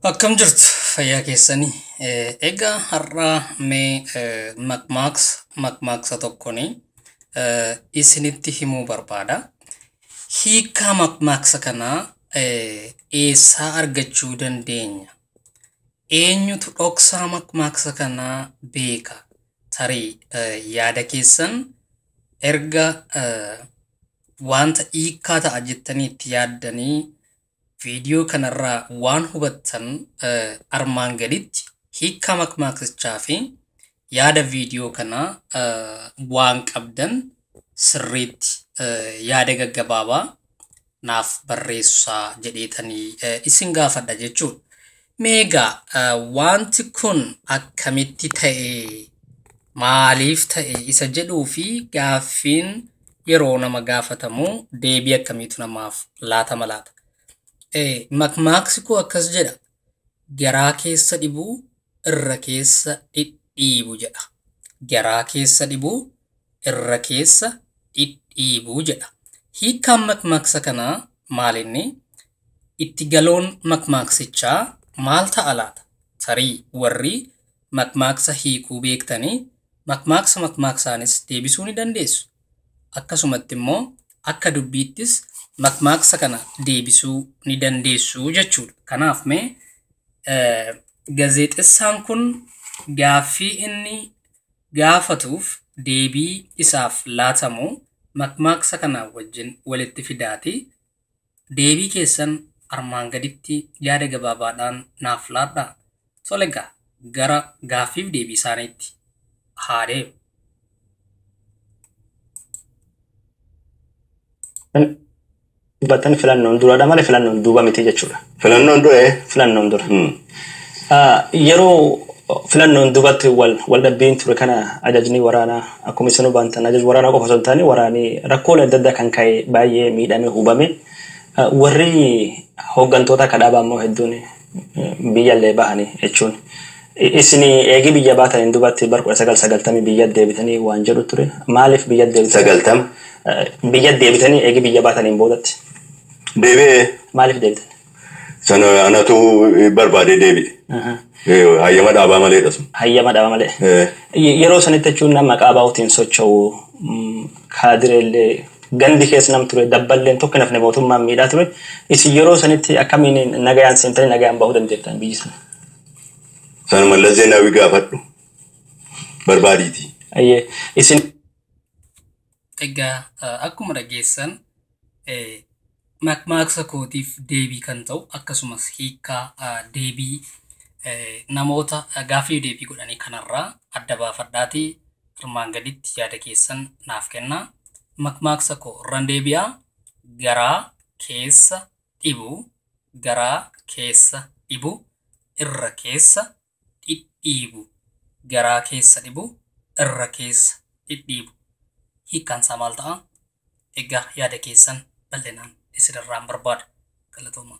Akkam jirtu fayyaa keessanii egaa har'aa mee maqmaaksa maqmaaksa tokkoni isinitti himuu barbaada. Hiikaa maqmaaksa kanaa eessaa argachuu dandeenya? Eenyutu dhoksaa maqmaaksa kanaa beeka? Tarii yaada keessan erga wanta hiikaa ta'a jettanii itti yaaddanii Viidiyoo kanarraa waan hubattan armaan gaditti hiikkaa makmaaksichaa fi yaada viidiyoo kanaa waan qabdan sirriitti yaada gaggabaabaa naaf barreessaa jedheetanii isin gaafadha jechuudha. Mee egaa eh, wanti kun akkamitti ta'e maaliif ta'e isa jedhuu fi gaaffiin yeroo nama gaafatamu deebii akkamiitu namaaf laatama laata? Eh, Makmaaksi koo akkas jedha garaa keessa dhibuu irra keessa dhidhiibu jedha. Garaa keessa dhibuu irra keessa dhidhiibu jedha. Hiikkaan makmaaksa kanaa maalinni? Itti galoon makmaaksichaa maal ta'a laata? Tarii warri makmaaksa hiikuu beektanii makmaaksa makmaaksaanis deebisuu ni dandeessu. Akkasumatti immoo akka dubbiittis makmaaksa kana deebisuu ni dandeessu jechuudha. Kanaaf mee gazeexessaan kun gaaffii inni gaafatuuf deebii isaaf laatamu makmaaksa kanaa wajjin walitti fidaati deebii keessan armaan gaditti yaada gabaabaadhaan naaf laadhaa. Tole egaa gara gaaffiif deebii isaaniitti haa deemnu. Dubbattan filannoon duradha malee filannoon duuba miti jechuudha. Filannoon dura ee? Filannoon dura. Hmm. Ah, Yeroo filannoon duubatti wal wal dhabbiin ture kana ajajni waraanaa akkuma isin hubantan ajaj waraanaa qofa osoo hin taane waraanii rakkoolee adda addaa kan ka'e baay'ee miidhame hubame Ah, warri hooggantoota akka dhaabaa immoo hedduun eh, biyyallee bahanii jechuun Isini eegi biyya baataniin dubatti bar 1990 biyyat deebitanii waan jedhu ture. Maaliif biyyat deebitanii? 90. Biyyat deebitanii eegi biyya baataniin boodatti. Deebi'e. Maaliif deebitan? Sana anatu barbaadee deebi'e. Hayyama dhaabaa maleedha sun. Hayyama dhaaba malee. Ee. Yeroo sanitti jechuun nam maqaa ABOtiin socho'u kaadireellee gandi keessa nam ture dabballeen tokko hin hafne mootummaan miidhaa ture. Isin yeroo sanitti akkamiin nagayaan seentanii nagayaan bahuu dandeettan biyyi sana? Sana Mallas Zeenaawii gaafadhu barbaadiitii. Ayyee isin. Egaa akkuma dhageessan makmaaksa kootiif deebii kan ta'u akkasumas hiikkaa deebii namoota gaaffiif deebii godhanii kanarraa adda baafadhaati armaan gaditti yaada keessan naaf kennaa. Makmaaksa koo irran deebi'aa garaa keessa dhibu garaa keessa dhibu irra keessa dhidhiibu garaa keessa dhibu irra keessa dhidhiibu hiikkaan isaa maal ta'a? Egaa yaada keessan bal'inaan isin irraan barbaada. Galatoomaa.